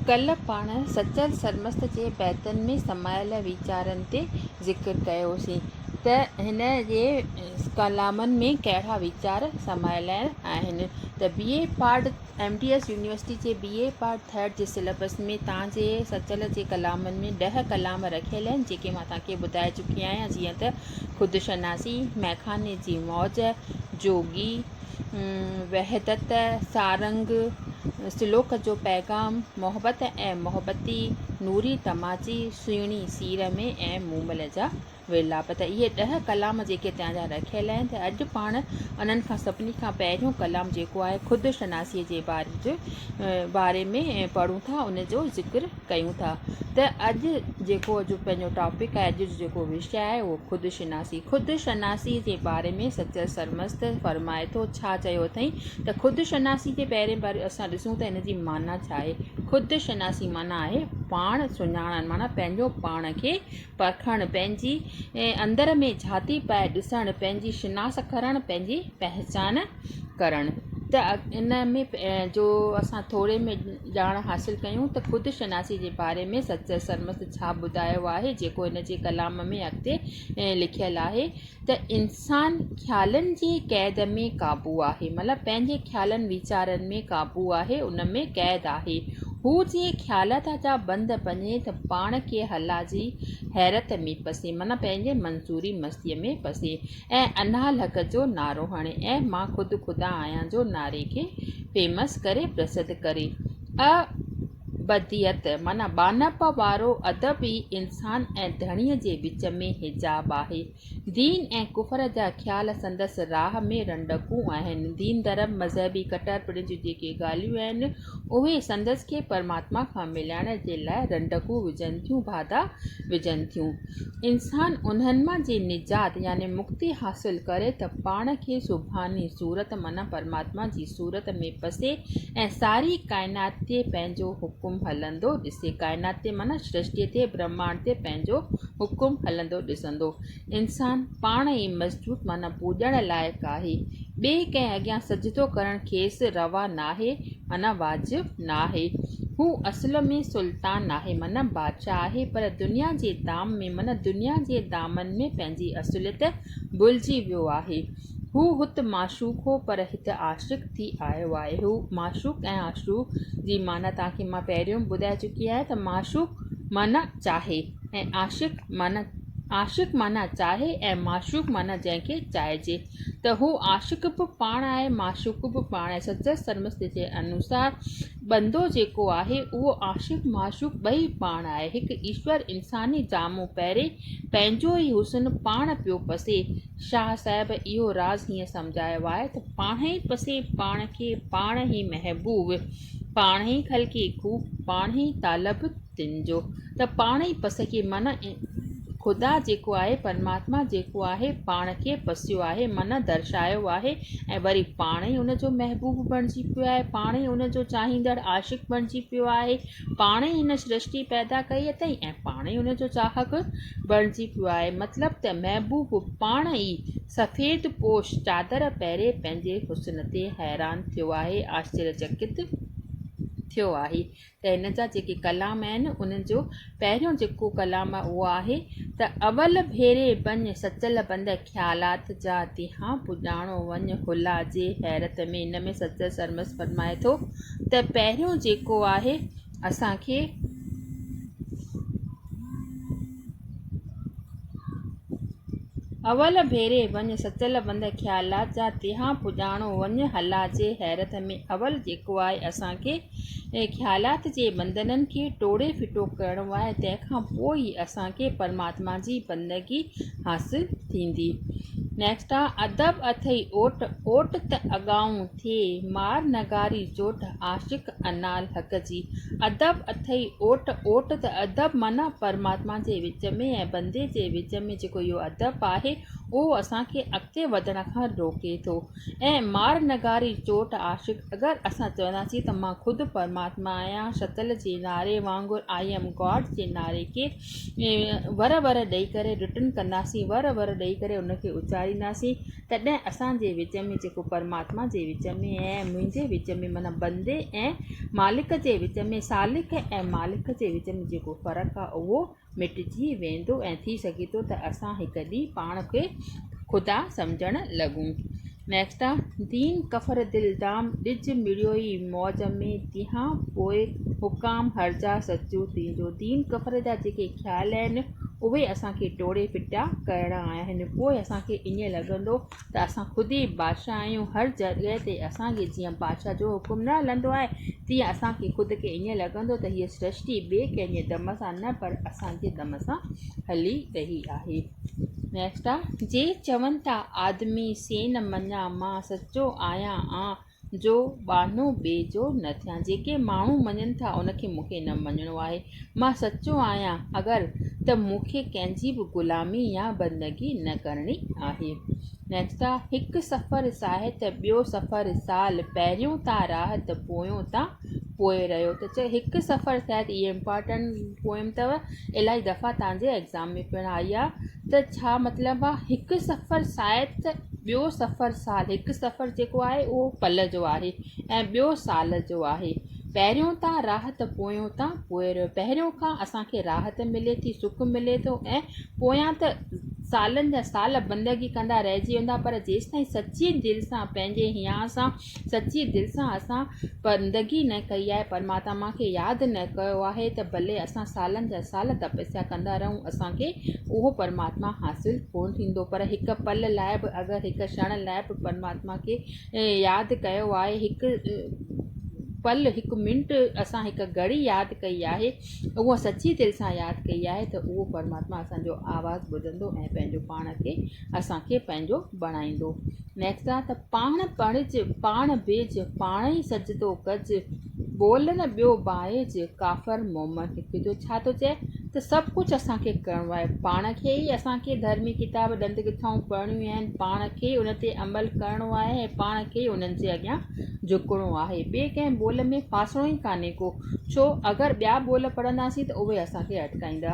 ڪل پاڻ سچل سرمست جي بيتن ۾ سمايل ويچارن تي ذڪر ڪيوسين ته هن جي ڪلامن ۾ ڪهڙا ويچار سمايل آهن ته B A part M D S university جي بي اي پارٽ ٿرڊ جي سليبس ۾ تان جي سچل جي ڪلامن ۾ ڏهه ڪلام رکيل آهن جيڪي مان تان کي ٻڌائي چڪي آهيان جيئن ته خودشناسي مئخاني جي موج جوڳي وحدت سارنگ سلوڪ جو پيغام محبت ۽ محبتي نوري تماچي سهڻي سير ۾ ۽ مومل جا ورلاپ ته اهي ڏهه ڪلام جيڪي تيان جا رکيل آهن ته اڄ پاڻ انهن کان سڀني کان پهريون ڪلام جيڪو آهي خود شناسي جي باري جو باري ۾ پڙهون ٿا ان جو ذڪر ڪيون ٿا ته اڄ جيڪو اڄ پنهنجو ٽاپڪ آهي اڄ جو جيڪو وشيه آهي اهو خود شناسي خود شناسي جي باري ۾ سچل سرمست فرمائي ٿو ڇا چيو اٿئي ته خود شناسي جي پهرين بار اسان ڏسون ته ان جي معنيٰ ڇا آهي خود شناسي معنيٰ آهي پاڻ سڃاڻڻ معنيٰ پنهنجو پاڻ کي پرکڻ پنهنجي اندر ۾ جھاتي پائي ڏسڻ پنهنجي شناس ڪرڻ پنهنجي پهچان ڪرڻ ته ان ۾ جو اسان ٿوري ۾ ڄاڻ حاصل ڪيون ته خود شناسي جي باري ۾ سچل سرمست ڇا ٻڌايو آهي جيڪو هن جي ڪلام ۾ اڳتي لکيل آهي ته انسان خيالن جي قيد ۾ قابو آهي مطلب پنهنجي خيالن ويچارن ۾ قابو آهي ان ۾ قيد آهي هو جي خيالات جا بند ڀڃي ته پاڻ کي هلا جي حيرت ۾ پسي معنيٰ پنهنجي منظوري مستيء ۾ پسي ۽ اناھ لھڪ جو نعرو ھڻي ۽ مان خود خدا آھيان جو نعري کي فيمس ڪري پرسڌ ڪري ا بديت معنيٰ ٻانھپ وارو ادب ئي انسان ۽ ڌڻي جي وچ ۾ حجاب آھي دين ۽ ڪفر جا خيال سندس راھ ۾ رنڊڪون آھن دين ڌرم مذھبي ڪٽر پڻ جون جيڪي ڳالھيون آھن اهي سندس کي پرماتما کان ملائڻ جي لاء رنڊڪون وجهن ٿيون، باڌا وجهن ٿيون. انسان انهن مان جي نجات يعني مڪتي حاصل ڪري ته پاڻ کي سبحاني صورت معنيٰ پرماتما جي صورت ۾ پسي ۽ ساري ڪائنات تي پنهنجو حڪم هلندو ڏسي، ڪائنات تي معنيٰ سرشتي تي، برهمانڊ تي پنهنجو حڪم هلندو ڏسندو. انسان پاڻ ئي مسجود معنيٰ پوڄڻ لائق آهي، ٻئي ڪنهن اڳيان سجدو ڪرڻ کيس روا ناهي معنيٰ واجب ناهي. هو اصل ۾ سلطان ناهي معنيٰ بادشاهه آهي پر دنيا جي دام ۾ معنيٰ دنيا جي دامن ۾ پنهنجي اصليت ڀلجي ويو آهي. هو هت معشوق هو پر هت عاشق ٿي آيو آهي. هو معشوق ۽ عاشوق جي معنيٰ توهان کي مان پهريون به ٻڌائي چڪي آهيان ته معشوق معنيٰ چاهي. ۽ عاشق معنيٰ عاشق معنيٰ چاهي ۽ معشوق معنيٰ جنهن کي چاهجي ته هو عاشق به پاڻ آهي معشوق به پاڻ آهي سچل سرمست جي انوسار بندو جيڪو آهي اهو عاشق معشوق ٻئي پاڻ آهي هڪ ايشور انساني جامو پهري پنهنجو ئي حسن پاڻ پيو پسي شاهه صاحب اهو راز هيئن سمجهايو آهي ته پاڻ ئي پسي پاڻ کي پاڻ ئي محبوب پاڻ ئي خلقي خوب پاڻ ئي طالب تن جو ته پاڻ ئي پسڪي من خدا جيڪو آهي پرماتما جيڪو آهي پاڻ کي پسيو آهي من درشايو آهي ۽ وري پاڻ ئي ان جو محبوب بڻجي پيو آهي پاڻ ئي ان جو چاهيندڙ عاشق بڻجي پيو آهي پاڻ ئي هن سرشٽي پيدا ڪئي اٿئي ۽ پاڻ ئي ان جو چاهڪ بڻجي پيو آهي مطلب ته محبوب پاڻ ئي سفيد پوش چادر پهري پنهنجي حسن تي حيران ٿيو آهي آشچريچڪت ٿيو آهي ته هن جا جيڪي ڪلام آهن انهن جو پهريون جيڪو ڪلام آهي اهو آهي ته اول ڀيري بڃ سچل بند خيالات جا ديهان پڄاڻو وڃ هلا جي حيرت ۾ ان ۾ سچل سرمست فرمائي ٿو ته پهريون جيڪو آهي اسان کي اول ڀيري وڃ سچل بند خيالات جا تيها پڄاڻو وڃ هلا جي حيرت ۾ اول جيڪو آهي اسان کي خيالات جي بندنن کي ٽوڙي ڦٽو ڪرڻو آهي تنهن کان پوء ئي اسان کي پرماتما جي بندگي حاصل ٿيندي نيڪسٽ آهي ادب اٿئي اوٽ اوٽ ته اڳائون ٿئي مار نگاري چوٽ عاشق انال حق جي ادب اٿئي اوٽ اوٽ ته ادب معنيٰ پرماتما جي وچ ۾ ۽ بندي جي وچ ۾ جيڪو اهو ادب آهي اهو اسان کي اڳتي وڌڻ کان روڪي ٿو ۽ مار نگاري چوٽ عاشق اگر اسان چونداسين ته مان خود پرماتما آهيان شتل جي نعري وانگر آئي ايم گاڊ جي نعري کي ور ور ڏئي ڪري رٽن ڪنداسين، ور ور ڏئي ڪري ان کي اچارينداسين، تڏهن اسان جي وچ ۾ جيڪو پرماتما جي وچ ۾ ۽ منهنجي وچ ۾ معنيٰ بندي ۽ مالڪ جي وچ ۾ سالڪ ۽ مالڪ جي وچ ۾ جيڪو فرق آهي اهو مٽجي ويندو ۽ ٿي سگهي ٿو ته اسان هڪ ڏينهن پاڻ کي خدا سمجهڻ لڳون. Next a دين ڪفر دل دام ڏج مڙيوئي موج ۾ تيهان پوء حڪام هرجا سچو تنهنجو دين ڪفر جا جيڪي خيال آهن اهي اسان کي ٽوڙي ڦٽا ڪرڻا آهن پوء اسان کي ائين لڳندو ته اسان خود ئي بادشاهه آهيون هر جڳهه تي اسان کي جيئن بادشاهه جو حڪم نه هلندو آهي تيئن اسان کي خود کي ائين لڳندو ته هيء سرشٽي ٻئي ڪنهن جي دم سان نه پر اسان جي دم سان هلي رهي آهي جي چون ٿا آدمي سين مڃان، مان سچو آهيان آن جو ٻانهو ٻئي جو نه ٿيان. جيڪي ماڻهو مڃن ٿا ان کي مون کي نه مڃڻو آهي. مان سچو آهيان اگر ته مون کي ڪنهن جي به غلامي يا بندگي نه ڪرڻي آهي. هڪ سفر ساهي ته ٻيو سفر سال، پهريون تان راهه ته پويون تان پوء رهيو ته چئه هڪ سفر شايد اهي امپارٽنٽ پويم اٿو الائي دفعا تنهنجي ايگزام ۾ پڻ آئي آ ته ڇا مطلب آ هڪ سفر شايد ته ٻيو سفر سال هڪ سفر جيڪو آهي اهو پل جو آهي ۽ ٻيو سال جو آهي پهريون تان راهه ته پويو تان پوء رهيو پهريون کان اسانکي راحت ملي ٿي سک ملي ٿو ۽ پويان ته سالن جا سال بندگي ڪندا رهجي ويندا پر جيستائين سچي دل سان پنهنجي هيا سان سچي دل سان اسان بندگي نه ڪئي آهي، پرماتما کي ياد نه ڪيو آهي ته ڀلي اسان سالن جا سال تپسيا ڪندا رهون اسان کي اهو پرماتما حاصل ڪونه ٿيندو پر هڪ پل لاء به اگر هڪ ڇڻ لاء به پرماتما کي ياد ڪيو آهي هڪ پل هڪ منٽ اسان هڪ گهڙي ياد ڪئي آهي اهو سچي دل سان ياد ڪئي آهي ته اهو پرماتما اسان جو آواز ٻڌندو ۽ پنهنجو پاڻ کي اسان کي پنهنجو بڻائيندو نيڪسا ته پاڻ پڙهج، پاڻ بيج، پاڻ ئي سجدو ڪج، ٻول نه ٻيو بائج، ڪافر مومن هڪ جو ڇا ٿو چئي ته سڀ ڪجهه اسان کي ڪرڻو آهي، پاڻ کي ئي اسان کي ڌرمي ڪتاب ڏند ڳٿائون پڙهڻيون آهن، پاڻ کي ئي ان تي عمل ڪرڻو آهي ۽ پاڻ کي ئي انهن جي اڳيان جهڪڻو آهي، ٻئي ڪنهن ٻول ۾ ڦاسڻو ئي ڪانهي ڪو، ڇو اگر ٻيا ٻول پڙهنداسين ته اهي اسان کي اٽڪائيندا.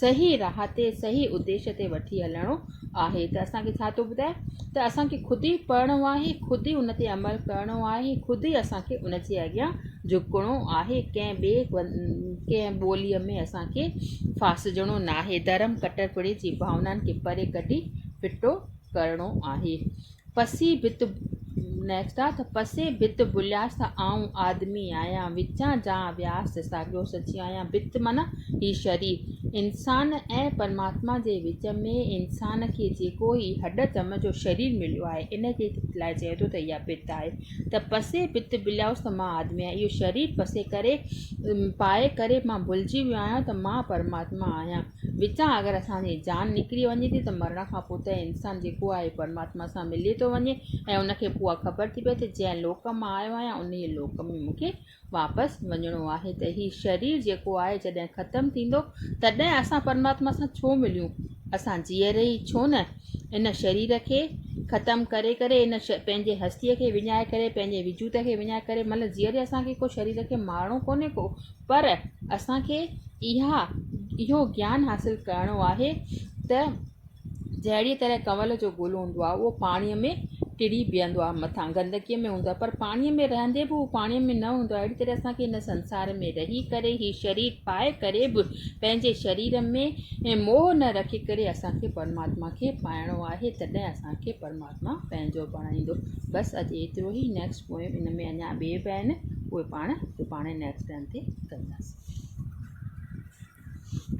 صحيح راھ تي صحيح اديش تي وٺي هلڻو آهي ته اسان کي ڇا ٿو ٻڌائي ته اسان کي خود ئي پڙهڻو آهي خود ئي ان تي عمل ڪرڻو آهي خود ئي اسان کي ان جي اڳيان جهڪڻو آهي ڪنهن ٻئي ڪنهن ٻوليء ۾ اسان کي ڦاسجڻو ناهي ڌرم ڪٽر پڻي جي ڀاونائن کي پري ڪڍي ڦٽو ڪرڻو آهي پسي ڀت Next آ ته پسي ڀت ڀلياس ته آئون آدمي آهيان وچان جان وياس ته ساڳيو سچي آهيان ڀت معنيٰ هي شرير انسان ۽ پرماتما جي وچ ۾ انسان کي جيڪو هي هڏ چم جو شرير مليو آهي ان کي لاء چئي ٿو ته اها ڀت آهي ته پسي ڀت ڀلياس ته مان آدمي آهيان اهو شرير پسي ڪري پائي ڪري مان ڀلجي ويو آهيان ته مان پرماتما آهيان وچان اگر اسان جي جان نڪري وڃي ٿي ته مرڻ کان پوء ته انسان جيڪو آهي پرماتما سان ملي ٿو وڃي ۽ ان کي پوء اها خبر ٿي پئي ته جنهن لوڪ مان آيو آهيان انهيء لوڪ ۾ مون کي واپس وڃڻو آهي ته هي شرير جيڪو آهي جڏهن ختم ٿيندو تڏهن اسان پرماتما سان ڇو مليون اسان جيئري ئي ڇو نه ان شرير کي ختم ڪري ڪري ان پنهنجي هستيء کي وڃائي ڪري پنهنجي وجود کي وڃائي ڪري مطلب جيئري اسان کي ڪو شرير کي مارڻو ڪونهي ڪو پر اسان کي اها اهو گيان حاصل ڪرڻو آهي ته جهڙيء طرح ڪنول جو گل هوندو آهي اهو پاڻيء ۾ ٽڙي بيهندو آهي مٿان گندگيء ۾ هوندو آهي پر پاڻيء ۾ رهندي به هو پاڻيء ۾ نه هوندو آهي اهڙي طرح اسان کي هن سنسار ۾ رهي ڪري هي شرير پائي ڪري به پنهنجي شرير ۾ موهه نه رکي ڪري اسان کي پرماتما کي پائڻو آهي تڏهن اسان کي پرماتما مان پنهنجو بڻائيندو بس اڄ ايترو ئي نيڪسٽ پوئم ان ۾ اڃا ٻئي به آهن اهي پاڻ سڀاڻي نيڪسٽ ٽائيم تي ڪنداسين